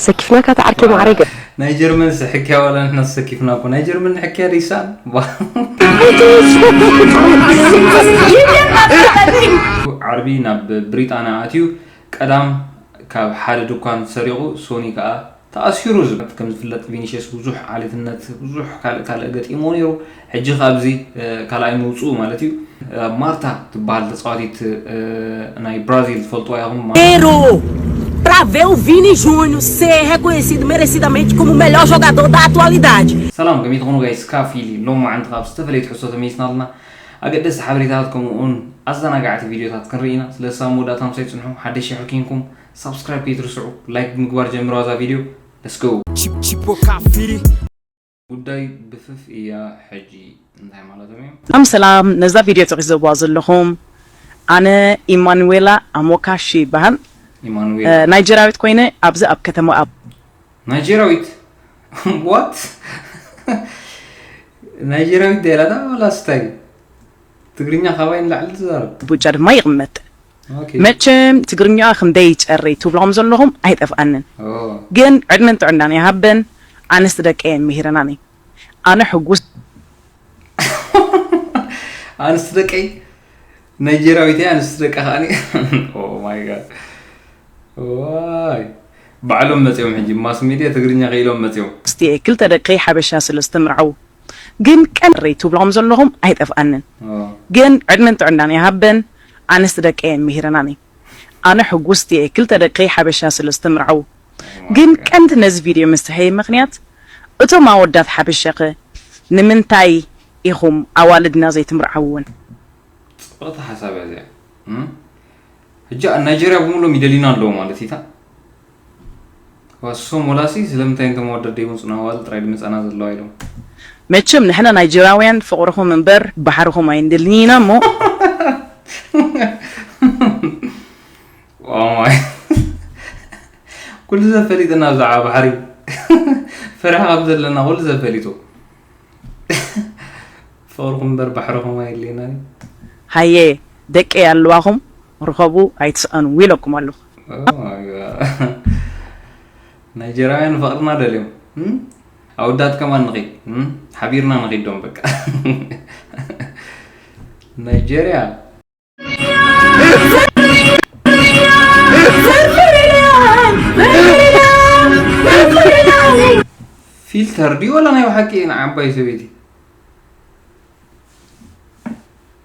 ሰኪፍና ካታ ዓርኪ ማዕረገ ናይ ጀርመን ስሕክያ ዋላ ንሕና ሰኪፍና እኮ ናይ ጀርመን ንሕክያ ሪሳን ዓርቢ ናብ ብሪጣንያ ኣትዩ ቀዳም ካብ ሓደ ድኳን ሰሪቑ ሶኒ ከዓ ተኣሲሩ ዝብት ከም ዝፍለጥ ቪኒሽስ ብዙሕ ዓሌትነት ብዙሕ ካልእ ካልእ ገጢሞ ነይሩ ሕጂ ካብዚ ካልኣይ ምውጽኡ ማለት እዩ ማርታ ትበሃል ተጻዋቲት ናይ ብራዚል ትፈልጥዋ ኢኹም Pero para ver o Vini Júnior ser reconhecido merecidamente como o melhor jogador da atualidade. ሰላም ከመይ ትኾኑ ጋይስ ካፊሊ ሎማዓንቲ ካብ ዝተፈለየት ሕሶ ተመይስና ኣለና ኣገደስቲ ሓበሬታት ከምኡ ውን ኣዘናጋዕቲ ቪድዮታት ክንርኢ ኢና ስለዚ ሳብ መወዳእታ ምሳይ ጽንሑ ሓደሽ ሽሕ ኪንኩም ሳብስክራይብ ከይትርስዑ ላይክ ብምግባር ጀምርዋ እዛ ቪድዮ ለስገው Tipo Cafiri, ጉዳይ ብፍፍ እያ ሕጂ እንታይ ማለቶም እዮም። ሰላም ሰላም ነዛ ቪድዮ ትዕዘብዋ ዘለኹም ኣነ ኢማኑዌላ ኣሞካሺ ይበሃል ኢማኑዌላ ናይጀርያዊት ኮይነ ኣብዚ ኣብ ከተማ ኣብ ናይጀርያዊት ዋት ናይጀርያዊት ደላታ ወላስ እንታይ ትግርኛ ካባይ ንላዕሊ ትዛረብ ኣቡጃ ድማ ይቕመጥ መቸም ትግርኛኣ ክንደይ ይጨርይ ትብሎም ዘለኹም ኣይጠፍኣንን ግን ዕድመን ጥዕናን ይሃበን ኣንስቲ ደቀየን ሚሂረናኒ ኣነ ሕጉስቲ ኣንስቲ ደቀይ ናይጀርያዊት እያ ኣንስቲ ደቃ ከኣኒ ኦማይ ጋድ ዋይ ባዕሎም መፅኦም ሕጂ ማስ ሚድያ ትግርኛ ክኢሎም መፅኦም ኣንስቲ እየ ክልተ ደቀይ ሓበሻ ስለ ዝተመርዐዉ ግን ቀንየረይ ትብሎም ዘለኹም ኣይጠፍኣንን ግን ዕድመን ጥዕናን ይሃበን ኣንስቲ ደቀየን ሚሂረናኒ ኣነ ሕጉስቲ እየ ክልተ ደቀይ ሓበሻ ስለ ዝተምርዐዉ ግን ቀንዲ ነዚ ቪድዮ ምስርሐይ ምክንያት እቶም ኣወዳት ሓበሻከ ንምንታይ ኢኩም ኣዋልድና ዘይትምርዐዉወን። ጽብቅቲ ሓሳብ እያ እዚኣ። ሕጂ ኣብ ናይጀርያ ብምሉኦም ይደልዩና ኣለዉ ማለት እዪ እታ። ዋሶ ሞላሲ ስለምንታይ እንተ መወደት ደይመጹን ኣዋልድ ጥራይ ድመጻና ዘለዋ ኢሎም። መቸም ንሕና ናይጀራውያን ፍቅርኹም እምበር ባሕርኹም ኣይንደልን ኢና እሞ። ኦማይ ኩሉ ሰብ ፈሊጥና ብዛዕባ ባሕሪ ፈሪሓ ከም ዘለና ኩሉ ሰብ ፈሊጡ ፍቅርኹም እምበር ባሕርኹም ኣየድልየናን እዩ። ሃየ ደቀይ ኣለዋኹም ርኸቡ ኣይትስኣኑ ኢለኩም ኣለኹ። ናይጀራውያን ንፈቕርና ደልዮም ኣወዳት ከማን ንኺድ ሓቢርና ንኺድ ዶም በቃ ናይጀርያ ፊልተር ድዩ ወላ ናይ ብሓቂ ንዓባይ ሰበይቲ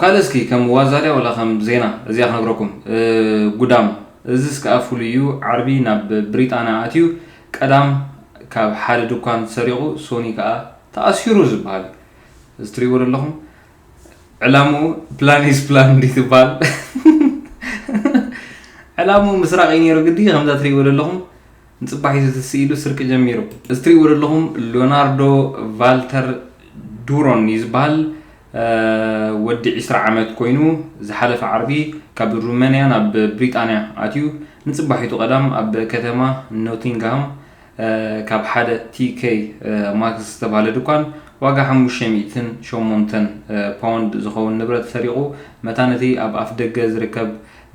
ካልእ እስኪ ከም ዋዛ ድያ ወላ ከም ዜና እዚኣ ክነግረኩም ጉዳም እዚስ ከኣ ፍሉይ እዩ ዓርቢ ናብ ብሪጣንያ ኣትዩ ቀዳም ካብ ሓደ ድኳን ሰሪቑ ሶኒ ከኣ ተኣሲሩ ዝበሃል እዩ እዚ ትሪእዎ ዘለኹም ዕላምኡ ፕላን ኢስ ፕላን እንዲ ትበሃል ዕላምኡ ምስራቕ እዩ ነይሩ ግዲ ከምዛ ትሪእዎ ዘለኹም ንጽባሒቱ እቲ ስኢሉ ስርቂ ጀሚሩ። እዚ ትሪእዎ ዘለኹም ሎናርዶ ቫልተር ዱሮን እዩ ዝበሃል። ወዲ ዕስራ ዓመት ኮይኑ ዝሓለፈ ዓርቢ ካብ ሩመንያ ናብ ብሪጣንያ ኣትዩ ንጽባሒቱ ቀዳም ኣብ ከተማ ኖቲንግሃም ካብ ሓደ TK Maxx ዝተባህለ ድኳን ዋጋ ሓሙሽተ ሚእትን ሸሞንተን ፓውንድ ዝኸውን ንብረት ሰሪቑ መታን እቲ ኣብ ኣፍደገ ዝርከብ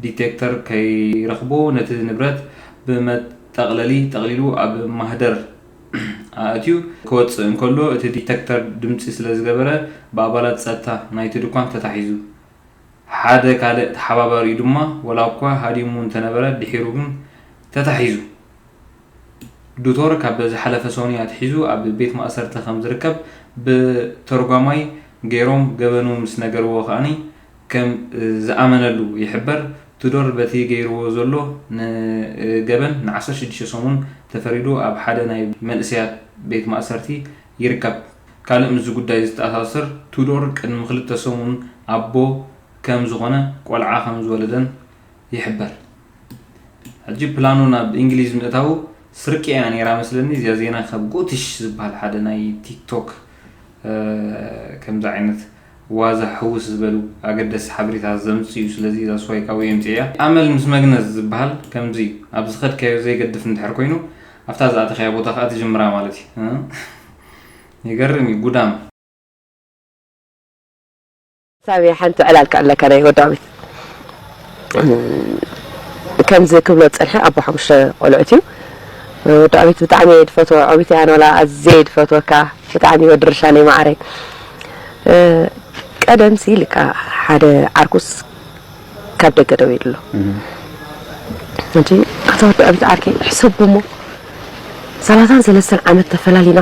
ዲቴክተር ከይረኽቦ ነቲ ንብረት ብመጠቕለሊ ጠቕሊሉ ኣብ ማህደር ኣእትዩ ክወጽእ እንከሎ እቲ ዲቴክተር ድምጺ ስለ ዝገበረ ብኣባላት ጸጥታ ናይቲ ድኳን ተታሒዙ። ሓደ ካልእ ተሓባባሪኡ ድማ ዋላ'ኳ ሃዲሙ እንተነበረ ድሒሩ ግን ተታሒዙ። ዱቶር ካብ ዝሓለፈ ሰኑይ ኣትሒዙ ኣብ ቤት ማእሰርቲ ከም ዝርከብ ብ ተርጓማይ ገይሮም ገበኑ ምስ ነገርዎ ከኣ ከም ዝኣመነሉ ይሕበር። ቱዶር በቲ ገይርዎ ዘሎ ን ገበን ን ዓሰርተ ሽዱሽተ ሰሙን ተፈሪዱ ኣብ ሓደ ናይ መንእሰያት ቤት ማእሰርቲ ይርከብ። ካልእ ምስዚ ጉዳይ ዝተኣሳሰር ቱዶር ቅድሚ ክልተ ሰሙን ኣቦ ከም ዝኾነ ቆልዓ ከም ዝወለደን ይሕበር። ሕጂ ፕላኑ ናብ እንግሊዝ ምእታዉ ስርቂ ኢያ ኔራ መስለኒ እዚኣ ዜና ካብ ጎትሽ ዝበሃል ሓደ ናይ ቲክቶክ ከምዚ ዓይነት ዋዛ ሕውስ ዝበሉ ኣገደስቲ ሓበሬታት ዘምጽዩ ስለዚ እዛ ስዋይ ካብኡ የምጽእ ኢያ ኣመል ምስ መግነዝ ዝበሃል ከምዚ ኣብ ዝኸድካዮ ዘይገድፍ እንድሕር ኮይኑ ኣብታ ዝኣተኻያ ቦታ ከኣ ትጅምራ ማለት ኢዩ ይገርም ኢዩ ጉዳም ሳሚ ሓንቲ ዕላል ክዕለካ ናይ ወዳሚት ከምዚ ክብሎ ዝጸንሐ ኣቦ ሓሙሽተ ቆልዑት እዩ ወዳሚት ብጣዕሚ እየ ድፈትዎ ዖቢት እያ ንላ ኣዝየ ድፈትወካ ብጣዕሚ ወዲ ርሻነይ ማዕረይ ቀደም ሲ ልካ ሓደ ዓርኩስ ካብ ደገ ደው ይብሎ እንጂ ኣታ ወዲ ዖቢት ዓርከይ ሕሰቦ እሞ ሰላሳን ሰለስተን ዓመት ተፈላሊና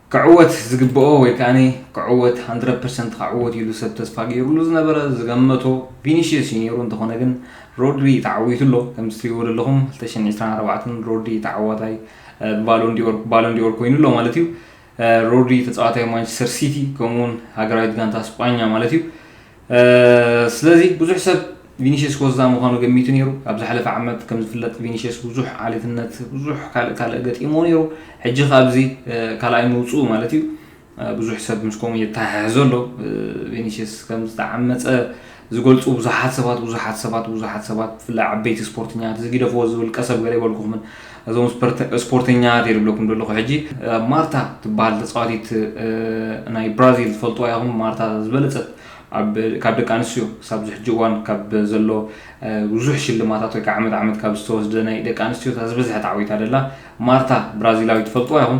ክዕወት ዝግበኦ ወይ ከኣ ክዕወት ሃንድረድ ፐርሰንት ከዕወት ኢሉ ሰብ ተስፋ ገይሩሉ ዝነበረ ዝገመቶ ቪኒሽየስ እዩ ነይሩ እንተኾነ ግን ሮድሪ ተዓዊቱ ኣሎ ከምዚ ትሪእዎ ዘለኹም 2024 ሮድሪ ተዓዋታይ ብባሎንዲኦር ባሎንዲኦር ኮይኑ ኣሎ ማለት እዩ ሮድሪ ተጻዋታይ ማንቸስተር ሲቲ ከምኡውን ሃገራዊት ጋንታ ስጳኛ ማለት እዩ ስለዚ ብዙሕ ሰብ ቪኒሽስ ኮዛ ምዃኑ ገሚቱ ነይሩ ኣብ ዝሓለፈ ዓመት ከም ዝፍለጥ ቪኒሽስ ብዙሕ ዓሌትነት ብዙሕ ካልእ ካልእ ገጢሞ ነይሩ ሕጂ ካብዚ ካልኣይ ምውፅኡ ማለት እዩ ብዙሕ ሰብ ምስ ከምኡ የተሓሕዞ ኣሎ ቪኒሽስ ከም ዝተዓመፀ ዝገልፁ ብዙሓት ሰባት ብዙሓት ሰባት ብዙሓት ሰባት ብፍላይ ዓበይቲ ስፖርተኛታት ዝጊደፍዎ ዝብል ቀሰብ ገለ ይበልኩኹምን እዞም ስፖርተኛ ቴ ድብለኩም ደለኹ ሕጂ ማርታ ትበሃል ተፃዋቲት ናይ ብራዚል ትፈልጥዋ ኢኹም ማርታ ዝበለፀት ካብ ደቂ ኣንስትዮ ሳብ ዝሕጂ እዋን ካብ ዘሎ ብዙሕ ሽልማታት ወይ ዓመት ዓመት ካብ ዝተወስደ ናይ ደቂ ኣንስትዮ ዝበዝሐት ዓዊታ ደላ ማርታ ብራዚላዊ ትፈልጥዋ ኢኹም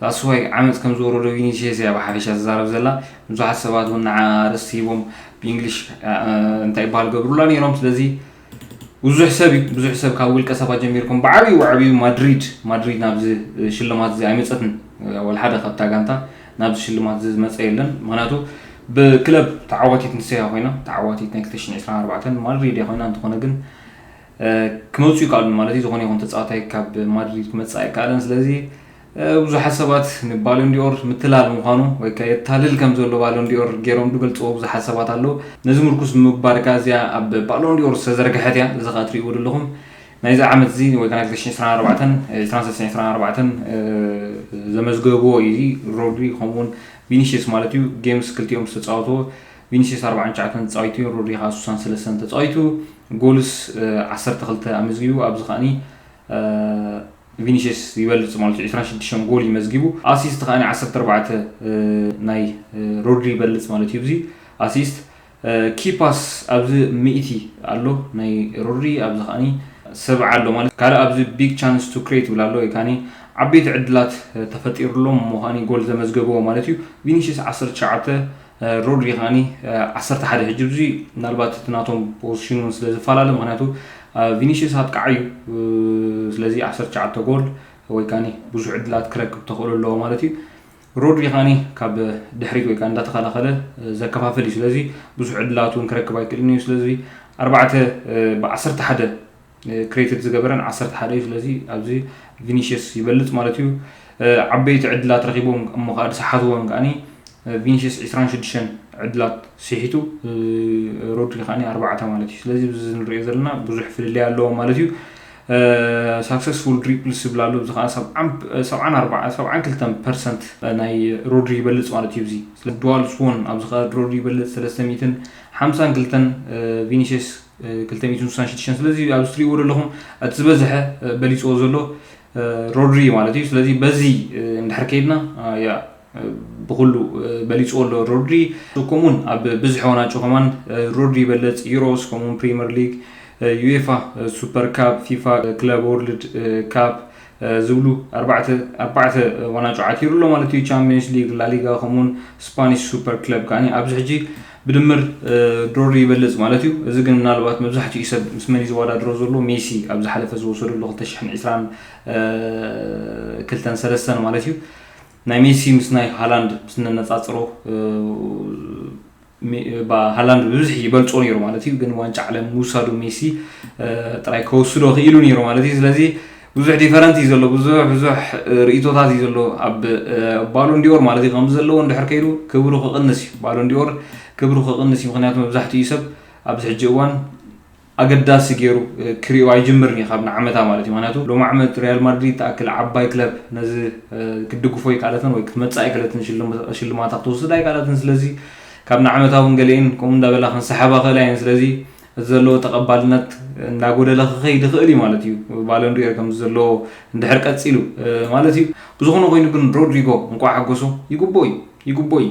That's why ዓመጽ ከም ዝወረዶ ቪኒሽየስ እያ ብሓፈሻ ትዛረብ ዘላ ብዙሓት ሰባት እውን ንዓኣ ኣርእስቲ ሂቦም ብእንግሊሽ እንታይ ይበሃል ገብሩላ ነይሮም ስለዚ ብዙሕ ሰብ እዩ ብዙሕ ሰብ ካብ ውልቀ ሰባት ጀሚርኩም ብዓብዩ ብዓብዩ ማድሪድ ማድሪድ ናብዚ ሽልማት እዚ ኣይመፀትን ወልሓደ ካብታ ጋንታ ናብዚ ሽልማት እዚ ዝመፀ የለን ምክንያቱ ብክለብ ተዓዋቲት ንሰያ ኮይና ተዓዋቲት ናይ 224 ማድሪድ እያ ኮይና እንተኾነ ግን ክመፁ ይከኣሉን ማለት እዩ ዝኾነ ይኹን ተፃዋታይ ካብ ማድሪድ ክመፅእ ኣይከኣለን ስለዚ ብዙሓት ሰባት ንባሎንዲኦር ምትላል ምዃኑ ወይ ከ የታልል ከም ዘሎ ባሎንዲኦር ገይሮም ዝገልፅዎ ብዙሓት ሰባት ኣለዉ ነዚ ምርኩስ ብምግባር ከ እዚኣ ኣብ ባሎንዲኦር ዝተዘርግሐት እያ እዚ ከ ትርእይዎ ዘለኹም ናይዚ ዓመት እዚ ወይ ከ ናይ 2024 ዘመዝገብዎ እዩ ሮድሪ ከምኡውን ቪኒሽስ ማለት እዩ ጌምስ ክልቲኦም ዝተፃወትዎ ቪኒስየስ ኣርብዓን ትሽዓተን ተጻዊቱ፣ ሮድሪ ከኣ ሱሳን ሰለስተን ተጻዊቱ፣ ጎልስ ዓሰርተ ክልተ ኣመዝጊቡ፣ ኣብዚ ከኣ ቪኒስየስ ይበልጽ ማለት'ዩ ዕስራን ሽዱሽተን ጎል እዩ መዝጊቡ፣ ኣሲስት ከኣ ዓሰርተ ኣርባዕተ ናይ ሮድሪ ይበልጽ ማለት'ዩ ኣብዚ ኣሲስት፣ ኪ ፓስ ኣብዚ ሚእቲ ኣሎ ናይ ሮድሪ ኣብዚ ከኣ ሰብዓ ኣሎ ማለት ካልእ ኣብዚ ቢግ ቻንስ ቱ ክሬት ይብል ኣሎ ወይ ከኣ ዓበይቲ ዕድላት ተፈጢርሎም እሞ ከኣ ጎል ዘመዝገበዎ ማለት'ዩ፣ ቪኒስየስ ዓሰርተ ትሽዓተ ሩድ ሪኻኒ ዓሰርተ ሓደ ሕጂ ብዙ ምናልባት እቲ ናቶም ፖዚሽን እውን ስለ ዝፈላለ ምክንያቱ ቪኒሽስ ኣጥቃዕ እዩ ስለዚ ዓሰርተ ትሽዓተ ጎል ወይ ካኒ ብዙሕ ዕድላት ክረክብ ተኽእሎ ኣለዎ ማለት እዩ ሮድሪ ካኒ ካብ ድሕሪት ወይ ከዓ እንዳተኸላኸለ ዘከፋፍል እዩ ስለዚ ብዙሕ ዕድላት እውን ክረክብ ኣይክእልን እዩ ስለዚ ኣርባዕተ ብዓሰርተ ሓደ ክሬትድ ዝገበረን ዓሰርተ ሓደ እዩ ስለዚ ኣብዚ ቪኒሽስ ይበልፅ ማለት እዩ ዓበይቲ ዕድላት ረኪቦም እሞ ከዓ ዝሰሓትዎም ከዓኒ ቪኒሽስ ዕስራን ሽዱሽተን ዕድላት ስሒቱ ሮድሪ ከዓኒ ኣርባዕተ ማለት እዩ ስለዚ እዚ ንሪኦ ዘለና ብዙሕ ፍልልይ ኣለዎም ማለት እዩ ሳክሰስፉል ድሪፕልስ ዝብል ኣሎ እዚ ከዓ ሰብዓን ክልተን ፐርሰንት ናይ ሮድሪ ይበልፅ ማለት እዩ እዚ ድዋል ስዎን ኣብዚ ከዓ ሮድሪ ይበልፅ ሰለስተ ሚእትን ሓምሳን ክልተን ቪኒሽስ ክልተ ሚእትን ስሳን ሽዱሽተን ስለዚ ኣብዚ ትሪእዎ ዘለኹም እቲ ዝበዝሐ በሊፅዎ ዘሎ ሮድሪ እዩ ማለት እዩ ስለዚ በዚ እንድሕር ከይድና ያ ብኩሉ በሊፅዎ ኣሎ ሮድሪ ከምኡውን ኣብ ብዝሒ ዋናጮ ከማን ሮድሪ ይበለፅ ዩሮስ ከምኡውን ፕሪምየር ሊግ ዩኤፋ ሱፐር ካፕ ፊፋ ክለብ ወርልድ ካፕ ዝብሉ ኣርባዕተ ኣርባዕተ ዋናጩ ዓቲሩ ኣሎ ማለት እዩ። ቻምፒየንስ ሊግ፣ ላሊጋ ከምኡውን ስፓኒሽ ሱፐር ክለብ ከኣ ኣብዚ ሕጂ ብድምር ድሮሪ ይበልጽ ማለት እዩ። እዚ ግን ምናልባት መብዛሕትኡ ሰብ ምስ መን እዩ ዝወዳድሮ ዘሎ ሜሲ ኣብ ዝሓለፈ ዝወሰደሉ 2022 ሰለስተን ማለት እዩ ናይ ሜሲ ምስ ናይ ሃላንድ ስነነጻጽሮ ሃላንድ ብብዝሒ ይበልፆ ነይሩ ማለት እዩ ግን ዋንጫ ዓለም ምውሳዱ ሜሲ ጥራይ ከወስዶ ክኢሉ ነይሩ ማለት እዩ ስለዚ ብዙሕ ዲፈረንት እዩ ዘሎ ብዙሕ ብዙሕ ርእቶታት እዩ ዘሎ ኣብ ባሎን ዲኦር ማለት እዩ ከምዚ ዘለዎ እንድሕር ከይዱ ክብሩ ክቕንስ እዩ ባሎን ዲኦር ክብሩ ክቕንስ እዩ ምክንያቱ መብዛሕትኡ ሰብ ኣብዚ ሕጂ እዋን ኣገዳሲ ጌሩ ክሪኦ ኣይጅምርን ኢዩ ካብ ንዓመታ ማለት ኢዩ ምክንያቱ ሎሚ ዓመት ሪያል ማድሪድ ትኣክል ዓባይ ክለብ ነዚ ክትድግፎ ኣይከኣለትን ወይ ክትመጽእ ኣይከለትን ሽልማታ ክትወስድ ኣይከኣለትን ስለዚ ካብ ንዓመታ ውን ገሊኤን ከምኡ እንዳበላ ክንሰሓባ ክእላ ኢየን ስለዚ እቲ ዘለዎ ተቀባልነት እንዳጎደለ ክኸይድ ይኽእል ኢዩ ማለት ኢዩ ባሎንዲኦር ከምዚ ዘለዎ እንድሕር ቀጺሉ ማለት ኢዩ ብዝኾነ ኮይኑ ግን ሮድሪጎ እንቋዕ ሓጎሶ ይግብኦ ኢዩ ይግብኦ ኢዩ።